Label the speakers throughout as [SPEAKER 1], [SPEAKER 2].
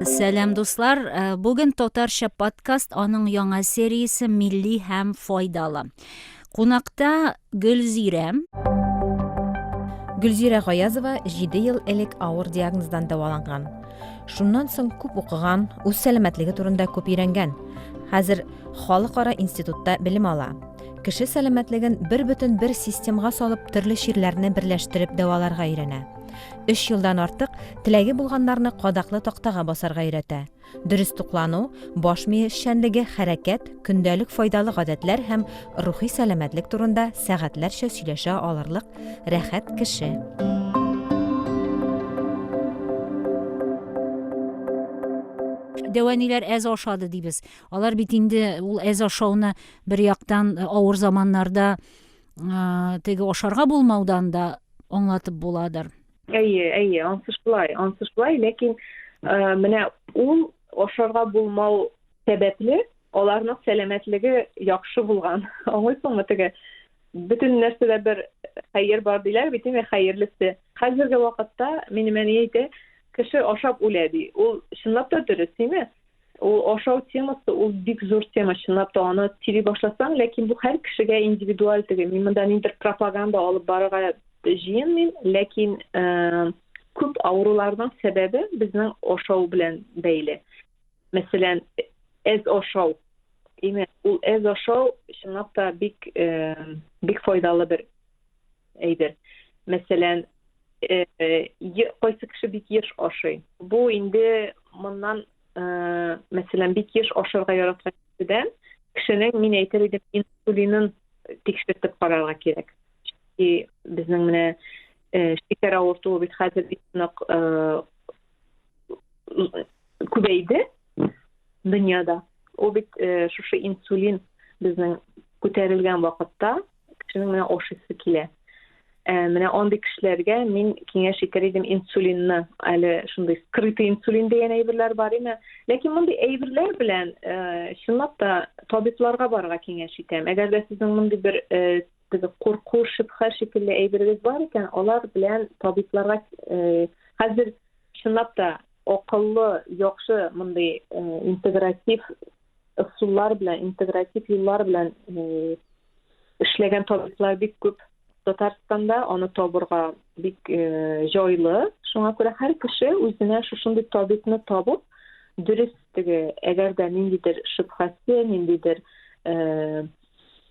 [SPEAKER 1] Сәлам дуслар, э, бүген татарча подкаст аның яңа сериясе милли һәм файдалы. Кунакта Гөлзирә. Гөлзирә Гаязова 7 ел элек авыр диагноздан дәваланган. Шуннан соң күп укыган, үз сәламәтлеге турында күп өйрәнгән. Хәзер халыкара институтта белем ала. Кеше сәламәтлеген бер бөтен бер системга салып, төрле чирләрне берләштереп дәваларга өйрәнә. Өч елдан артык теләге булганнарны кадаклы тактага басарга өйрәтә. Дөрес туклану, баш мие эшчәнлеге, хәрәкәт, көндәлек файдалы гадәтләр һәм рухи сәламәтлек турында сәгатьләрчә сөйләшә алырлык рәхәт кеше. дәваниләр әз ашады дибез алар бит инде ул әз ашауны бер яктан э, авыр заманнарда э, теге ашарга булмаудан да аңлатып буладыр әйе әйе
[SPEAKER 2] ансы шулай ансы шулай ләкин э, менә ул ашарга булмау сәбәпле аларның сәламәтлеге яхшы булган аңлыйсыңмы теге бөтен нәрсәдә бер хәер бар диләр бит инде хәерлесе хәзерге вакытта минем әни әйтә кеше ашап үлә ди ул чынлап та дөрес тиме Ул ашау темасы ул бик зур тема чынлап та аны сөйли башласаң, ләкин бу һәр кешегә индивидуаль теге. Мин монда ниндер пропаганда алып барырга җыенмыйм, ләкин э, күп авыруларның сәбәбе безнең ашау белән бәйле. Мәсәлән, әз ашау. Имә, ул әз ашау чынлап та бик э, бик файдалы бер әйбер. Мәсәлән, э, э, кайсы кеше бик еш ашый. Бу инде моннан, э, мәсәлән, бик еш ашарга яраткан кешедән кешенең мин әйтер идем инсулинын тикшертеп карарга кирәк. И безнең менә э, шикәр авыртуы бит хәзер бик нык э, күбәйде дөньяда. Ул бит э, шушы инсулин безнең күтәрелгән вакытта кешенең менә ашыйсы килә ә, менә андый кешеләргә мин киңәш итәр идем инсулинны әле шундый скрытый инсулин дигән әйберләр бар име ләкин мондый әйберләр белән ә, чынлап та табибларга барырга киңәш итәм әгәр дә сезнең мондый бер ә, теге курку шөбһә шикелле әйберегез бар икән алар белән табибларга ә, хәзер чынлап та акыллы яхшы мондый ә, интегратив ысуллар белән интегратив юллар белән Эшләгән табиблар бик күп Татарстанда, аны табырга бик э, җайлы. Шуңа күрә һәр кеше үзенә шушындый табибны табып, дөрес теге, әгәр дә ниндидер шөбһәсе, ниндидер э,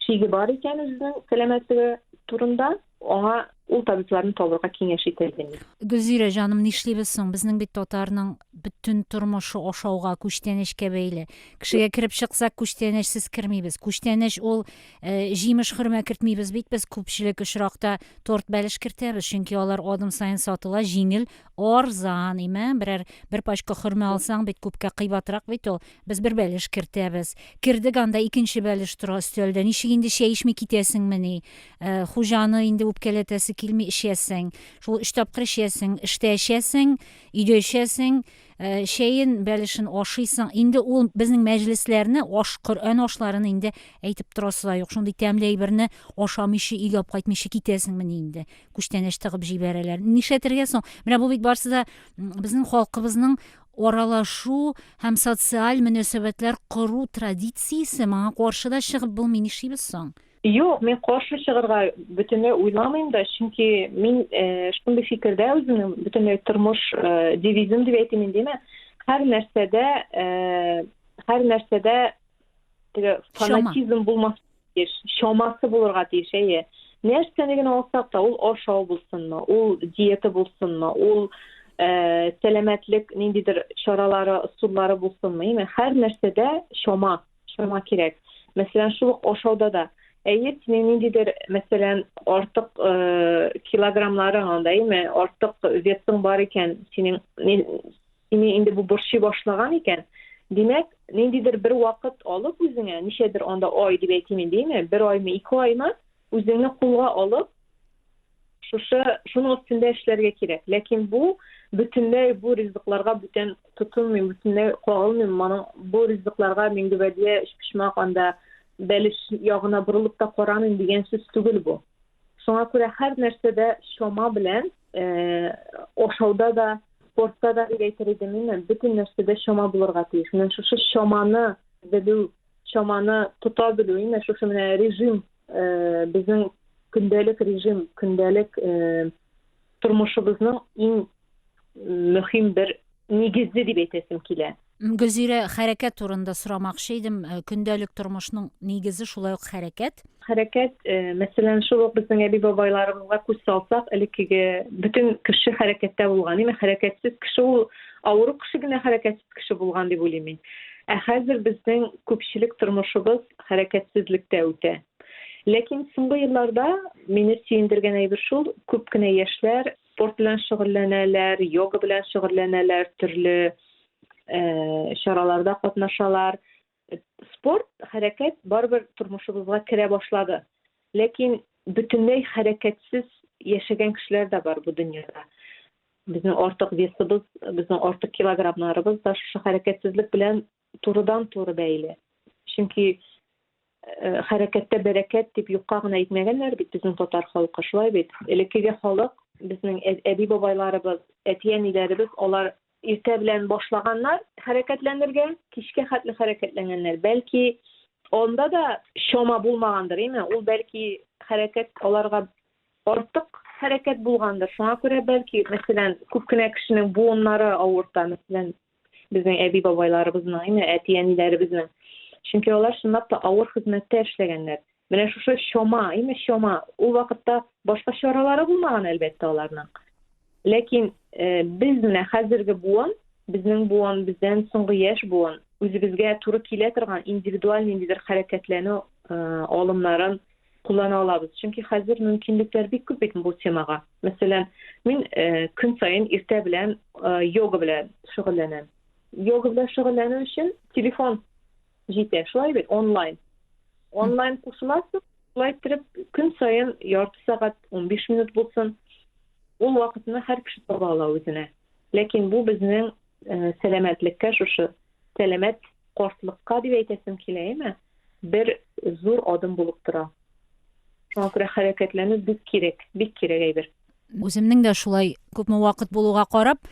[SPEAKER 2] шиге бар икән үзенең сәламәтлеге турында, Аңа ул табибларны табырга киңәш ителгән иде. Гөлзирә җаным,
[SPEAKER 1] нишлибез соң? Безнең бит татарның бөтен тормышы ашауга, күчтәнәчкә бәйле. Кешегә кереп чыксак, күчтәнәчсез кермибез. Күчтәнәч ул э, җимеш хөрмә кертмибез бит без күпчелек очракта торт бәлеш кертәбез, чөнки алар адым саен сатыла, җиңел, арзан, имә, берәр бер пачка хөрмә алсаң бит күпкә кыйбатрак бит ул. Без бер бәлеш кертәбез. Кердек, анда икенче бәлеш тора өстәлдә. Ничек инде чәй эчми китәсеңмени? Э, хуҗаны инде үпкәләтәсе килми, эчәсең. Шул өч тапкыр эчәсең. Эштә эчәсең, өйдә эчәсең. Э, чәен, бәлешен ашыйсың. Инде ул безнең мәҗлесләрне, аш, Коръән ашларын инде әйтеп торасы да юк. Шундый тәмле әйберне ашамыйчы, өйгә алып кайтмыйчы китәсеңмени инде? Күчтәнәч тыгып җибәрәләр. Нишләтергә соң? Менә бу бит барсы да безнең халкыбызның аралашу һәм социаль мөнәсәбәтләр кору традициясе моңа каршы да чыгып булмый, нишлибез соң? Юк, мин каршы
[SPEAKER 2] чыгырга бөтенләй уйламыйм да, чөнки мин шундый фикердә үземнең бөтенләй тормыш девизым дип әйтим индеме, һәр нәрсәдә һәр нәрсәдә теге фанатизм булмас Еш, чамасы булырга тиеш, әйе. Нәрсәне генә алсак та, ул ашау булсынмы, ул диета булсынмы, ул э, сәламәтлек ниндидер чаралары, ысуллары булсынмы, яме һәр нәрсәдә чама, чама кирәк. Мәсәлән, шул ук ашауда да. Әйе, синең ниндидер, мәсәлән, артык э, килограммларың анда, яме артык весың бар икән, синең Сине инде бу борчый башлаган икән, димәк, ниндидер бер вакыт алып үзеңә, ничәдер анда ай дип әйтим инде, име, бер аймы, ике аймы, үзеңне кулга алып, шушы, шуның өстендә эшләргә кирәк. Ләкин бу бөтенләй бу ризыкларга бүтән тотынмыйм, бөтенләй кагылмыйм. Моның бу ризыкларга мин гөбәдия, өчпочмак, анда бәлеш ягына борылып та карамыйм дигән сүз түгел бу. Шуңа күрә һәр нәрсәдә чама белән, ашауда да, спортта да дип әйтер идем мин, бөтен нәрсәдә чама булырга тиеш. Менә шушы чаманы белү, чаманы тота белү, менә шушы менә режим, безнең көндәлек режим, көндәлек тормышыбызның иң мөһим бер нигезе дип әйтәсем килә. Гөлзирә, хәрәкәт
[SPEAKER 1] турында сорамакчы идем. Э, көндәлек тормышның нигезе шулай ук хәрәкәт. Хәрәкәт, э,
[SPEAKER 2] мәсәлән, шул ук безнең әби-бабайларыбызга күз салсак, элеккеге бөтен кеше хәрәкәттә булган. Димәк, хәрәкәтсез кеше ул авыру кеше генә хәрәкәтсез кеше булган дип уйлыйм мин. Ә хәзер безнең күпчелек тормышыбыз хәрәкәтсезлектә үтә. Ләкин соңгы елларда мине сөендергән әйбер шул, күп кенә яшьләр Спорт белән шөгыльләнәләр, йога белән шөгыльләнәләр, төрле чараларда катнашалар. Спорт, хәрәкәт барыбер тормышыбызга керә башлады. Ләкин бөтенләй хәрәкәтсез яшәгән кешеләр дә бар бу дөньяда. Безнең артык весыбыз, безнең артык килограммнарыбыз да шушы хәрәкәтсезлек белән турыдан-туры бәйле. Чөнки э, хәрәкәттә бәрәкәт дип юкка гына әйтмәгәннәр бит безнең татар халкы, шулай бит. Элеккеге халык, безнең әби-бабайларыбыз, әти-әниләребез, алар иртә белән башлаганнар хәрәкәтләнергә, кичкә хәтле хәрәкәтләнгәннәр. Бәлки анда да чама булмагандыр, әйме? Ул бәлки хәрәкәт аларга артык хәрәкәт булгандыр. Шуңа күрә бәлки, мәсәлән, күп кенә кешенең буыннары авырта, мәсәлән, Безнең әби-бабайларыбызның, әйме, әти-әниләребезнең. Чөнки алар чынлап та авыр хезмәттә эшләгәннәр. Менә шушы чома, әйме, чома. Ул вакытта башка чаралары булмаган, әлбәттә, аларның. Ләкин э, без менә хәзерге буын, безнең буын, бездән соңгы яшь буын, үзебезгә туры килә торган индивидуаль ниндидер хәрәкәтләнү э, алымнарын куллана алабыз. Чөнки хәзер мөмкинлекләр бик күп бит бу темага. Мәсәлән, мин көн саен иртә белән йога белән шөгыльләнәм. Йога белән шөгыльләнү өчен телефон җитә, шулай бит, онлайн. Онлайн кушыласың, шулай иттереп көн саен ярты сәгать, 15 минут булсын, ул вакытны һәр кеше таба ала үзенә. Ләкин бу безнең сәламәтлеккә шушы сәламәт картлыкка дип әйтәсем килә, әйме? бер зур адым булып тора. Шуңа күрә хәрәкәтләнү бик кирәк, бик кирәк әйбер. Үземнең дә
[SPEAKER 1] шулай күпме вакыт булуга карап,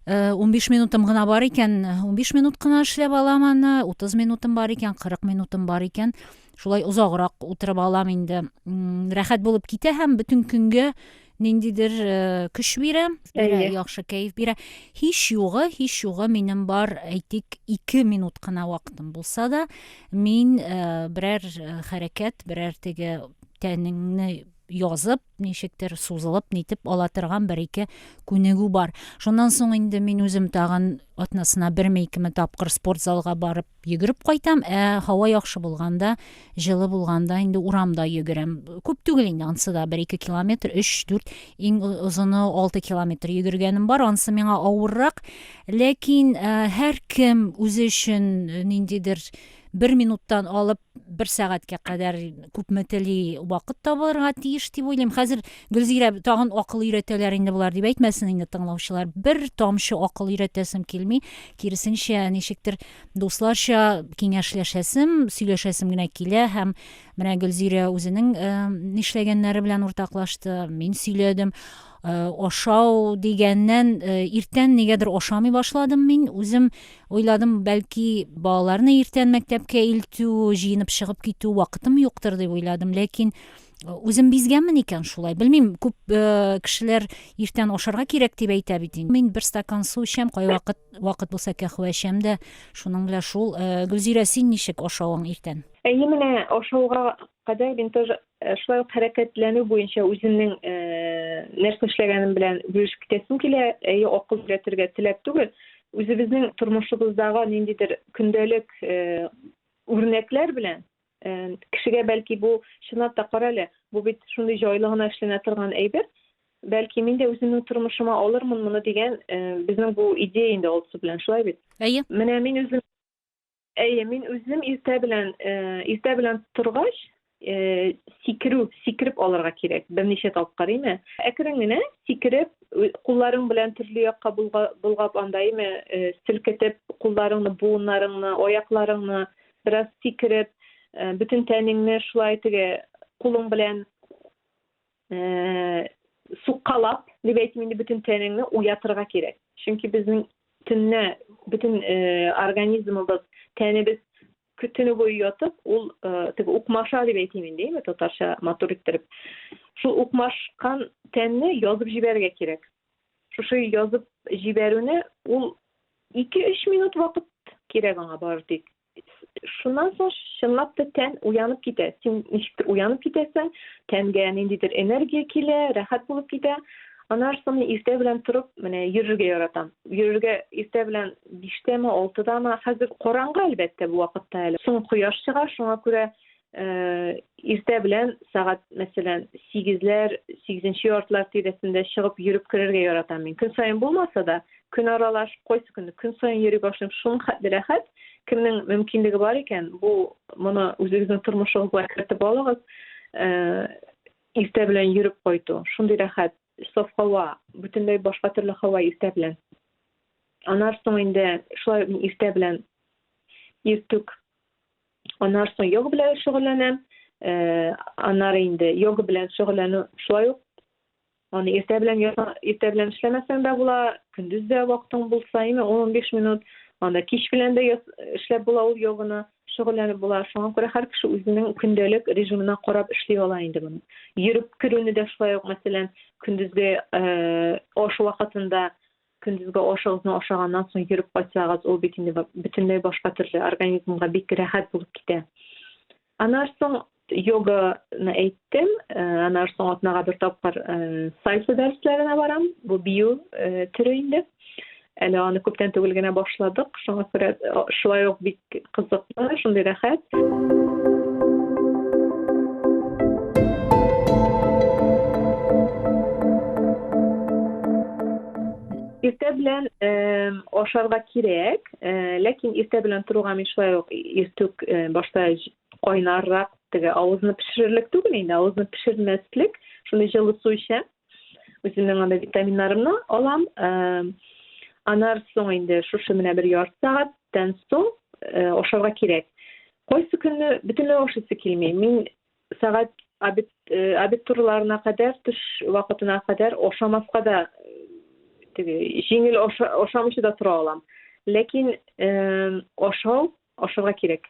[SPEAKER 1] 15 э, минутым гына бар икән, 15 минут кына эшләп алам аны, 30 минутым бар икән, 40 минутым бар икән, шулай озаграк утырып алам инде. Рәхәт булып китә һәм бөтен көнгә ниндидер көч бирә яхшы кәеф бирә һич югы һич югы минем бар әйтик ике минут кына вакытым булса да мин берәр хәрәкәт берәр теге тәнеңне язып ничектер сузылып нитеп ала торган бер ике күнегү бар шуннан соң инде мин үзем тагын атнасына берме икеме тапкыр спорт залга барып Йөгереп кайтам, ә һава яхшы булганда, җылы булганда инде урамда йөгерәм. Күп түгел инде ансы да 1-2 километр, 3-4, иң озыны 6 километр йөгергәнем бар. Ансы миңа авыррак. Ләкин һәр кем үзе өчен ниндидер бер минуттан алып бер сәгатькә кадәр күпме тели вакыт табылырга тиеш дип уйлыйм. Хәзер Гөлзирә тагын акыл өйрәтәләр инде болар дип әйтмәсен инде тыңлаучылар. Бер тамчы акыл өйрәтәсем килми. киресенчә ничектер дусларча киңәшләшәсем сөйләшәсем генә килә һәм менә гөлзирә үзенең э, нишләгәннәре белән уртаклашты мин сөйләдем э, ашау дигәннән э, иртән нигәдер ашамый башладым мин үзем уйладым бәлки балаларны иртән мәктәпкә илтү җыенып чыгып китү вакытым юктыр дип уйладым ләкин Үзем бизгәнмен икән шулай. Белмим, күп э, кешеләр иртән ашарга кирәк дип әйтә бит инде. Мин бер стакан су эчәм, кайвакыт вакыт булса кәхвә эчәм дә. Шуның белән шул. Э, Гөлзирә, син ничек ашавың иртән? Әйе, менә ашауга
[SPEAKER 2] кадәр мин тоже э, шулай ук хәрәкәтләнү буенча үземнең э, нәрсә эшләгәнем белән бүлешеп китәсем килә. Әйе, акыл өйрәтергә теләп түгел, үзебезнең тормышыбыздагы ниндидер көндәлек э, үрнәкләр белән Э, кешегә бәлки бу чынлап та карале бу бит шундый җайлы гына эшләнә торган әйбер бәлки мин дә үземнең тормышыма алырмын моны дигән э, безнең бу идея инде алсу белән шулай бит әйе менә мин үзем әйе мин үзем иртә белән э, иртә белән торгач сикерү сикереп алырга кирәк берничә тапкыр име әкрен генә сикереп кулларың белән төрле якка болгап анда име селкетеп кулларыңны буыннарыңны аякларыңны Бераз сикереп, бөтен тәнеңне шулай теге кулың белән суккалап, дип әйтим инде, бөтен тәнеңне уятырга кирәк. Чөнки безнең төнне бөтен организмыбыз, тәнебез көтүне буе ятып, ул теге укмаша дип әйтим инде, татарча матур иттереп. Шул укмашкан тәнне язып җибәрергә кирәк. шушы язып җибәрүне ул 2-3 минут вакыт кирәк аңа бары тик. Шуннан соң чынлап та тән уянып китә. Син ничектер уянып китәсең, тәнгә ниндидер энергия килә, рәхәт булып китә. Аннан соң мин иртә белән торып, менә йөрергә яратам. Йөрергә иртә белән 5тәме, 6дамы, хәзер караңгы әлбәттә бу вакытта әле. Соң кояш чыга, шуңа күрә Э, иртә белән сәгать мәсәлән сигезләр сигезенче яртылар тирәсендә чыгып йөреп керергә яратам мин көн саен булмаса да көн аралаш кайсы көнне көн саен йөри башлыйм шуның хәтле рәхәт кемнең мөмкинлеге бар икән бу моны үзегезнең тормышыгызга кертеп алыгыз э, иртә белән йөреп кайту шундый рәхәт Саф һава, бөтенләй башка төрле һава иртә белән. Анар соң инде шулай мин иртә белән иртүк анар соң йога белән шөгыльләнәм. Э, анар инде йога белән шөгыльләнү шулай ук аны иртә белән иртә белән эшләмәсәң дә була, көндез дә вакытың булса, яме 10-15 минут, анда кич белән дә эшләп була ул йоганы. шөгыльләнеп була. Шуңа күрә һәр кеше үзенең көндәлек режимына карап эшли ала инде моны. Йөреп керүне дә шулай ук, мәсәлән, көндезге э, аш вакытында көндезге ашыгызны ашаганнан соң йөреп кайтсагыз, ул бит инде бөтенләй башка төрле организмга бик рәхәт булып китә. Аннан соң йоганы әйттем э, аннан соң атнага бер тапкыр э, сальса дәресләренә барам бу бию э, төре инде әле аны күптән түгел генә башладык шуңа күрә шулай ук бик кызыклы шундый рәхәт иртә белән ашарга кирәк ләкин иртә белән торуга мин шулай ук иртүк башта кайнаррак теге авызны пешерерлек түгел инде авызны пешермәслек шундый җылы су эчәм үземнең анда витаминнарымны алам анар соң инде шушы менә бер ярты сәгатьтән соң ашарга кирәк кайсы көнне бөтенләй ашыйсы килми мин сәгать обед обед турларына кадәр төш вакытына кадәр ашамаска да теге җиңел ашамыйча да тора алам ләкин ашау ашарга кирәк.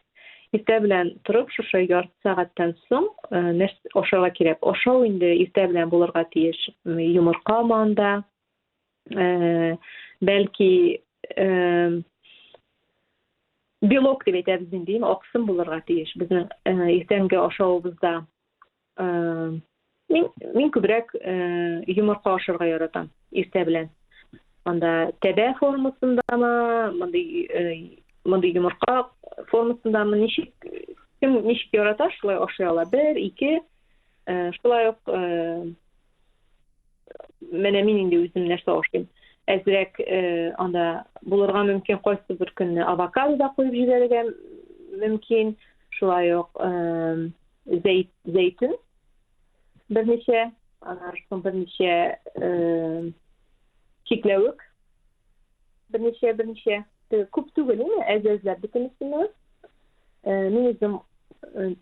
[SPEAKER 2] Иртә белән торып, шушы ярты сәгатьтән соң э, нәрсә ашарга кирәк. Ашау инде иртә белән булырга тиеш. Йомырка манда, э, бәлки э, белок дип әйтәбез инде, аксым булырга тиеш. Безнең иртәнге ашавыбызда Мин мин күбрәк йомырка ашарга яратам иртә белән. Анда тәбә формасындамы, мондый мондый йомырка формасындамы ничек кем ничек ярата шулай ашый ала. Бер, ике шулай ук Менә мин инде үзем нәрсә ашыйм. Әзрәк э, анда булырга мөмкин кайсы бер көнне авокадо да куеп җибәрергә мөмкин. Шулай ук э, зәйт, зәйтүн берничә, аннан соң берничә э, чикләвек берничә берничә э, күп түгел инде әз-әзләп бөтенесен. Э, мин үзем э,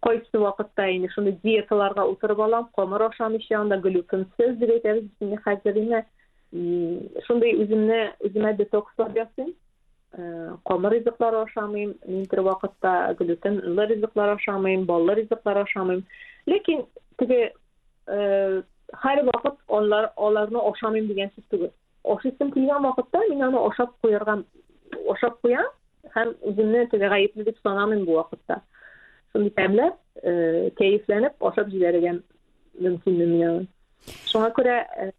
[SPEAKER 2] Кайсы вакытта инде шундый диеталарга утырып алам, камыр ашамыйча, анда глютенсез дип әйтәбез без инде хәзер инде. Шундый үземне үземә детокслар ясыйм. Камыр э, ризыклар ашамыйм, мин бер вакытта глютенлы ризыклар ашамыйм, баллы ризыклар ашамыйм. Ләкин теге э, һәр вакыт алар аларны ашамыйм дигән сүз түгел. Ашыйсым килгән вакытта мин аны ашап куярга ашап куям һәм үземне теге гаепле дип санамыйм бу вакытта. Шундый тәмләп, э, кәефләнеп ашап җибәрергә мөмкин миңа. Шуңа күрә э,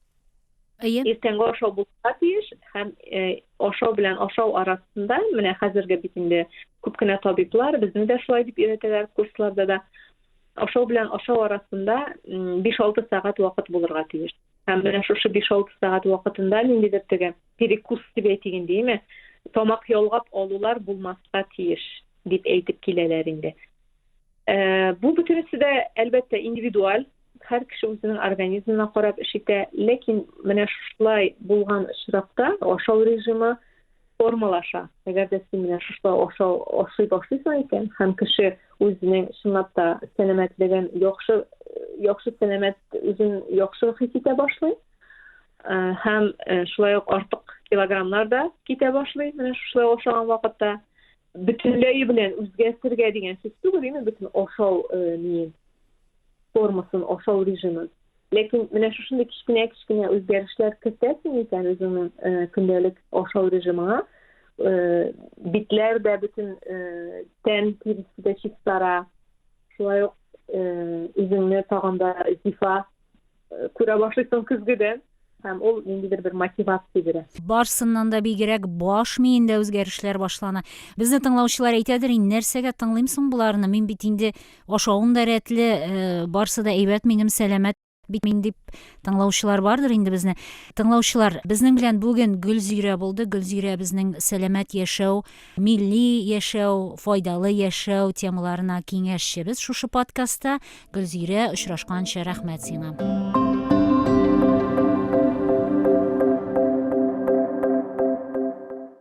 [SPEAKER 2] Әйе. Иртәнге ашау булырга тиеш һәм э, ашау белән ашау арасында менә хәзерге бит инде күп кенә табиблар безне дә шулай дип өйрәтәләр курсларда да. Ашау белән ашау арасында 5-6 сәгать вакыт булырга тиеш. Һәм менә шушы 5-6 сәгать вакытында ниндидер теге перекус дип әйтик инде, яме тамак ялгап алулар булмаска тиеш дип әйтеп киләләр инде. Э, бу бөтенесе дә әлбәттә индивидуаль, һәр кеше үзенең организмына карап эш итә, ләкин менә шулай булган очракта ашау режимы формалаша. Әгәр дә син менә шушлай ашау ашый башлыйсың икән һәм кеше үзенең чынлап та сәламәтлеген яхшы яхшы сәламәт үзен яхшы хис итә башлый э, һәм э, шулай ук артык килограммнар да китә башлый менә шушлай ашаган вакытта бөтенләй белән үзгәртергә дигән сүз түгел име бөтен ашау э, ниен формасын, ашау режимын. Ләкин менә шушындый кечкенә-кечкенә үзгәрешләр кертәсең икән үзеңнең э, көндәлек ашау режимыңа, э, битләр дә бөтен э, тән тиресе дә чистара, шулай ук үзеңне тагын да зифа күрә башлыйсың көзгедә һәм ул ниндидер бер мотивация бирә барсыннан да бигрәк
[SPEAKER 1] баш миендә үзгәрешләр башлана безне тыңлаучылар әйтәдер инде нәрсәгә тыңлыйм соң боларны мин бит инде ашавым да рәтле э, барсы да әйбәт минем сәламәт бит мин дип тыңлаучылар бардыр инде безне тыңлаучылар безнең белән бүген гөлзирә булды гөлзирә безнең сәламәт яшәү Милли яшәү, файдалы яшәү темаларына киңәшчебез шушы подкастта. Гөлзирә, очрашканча рәхмәт сиңа.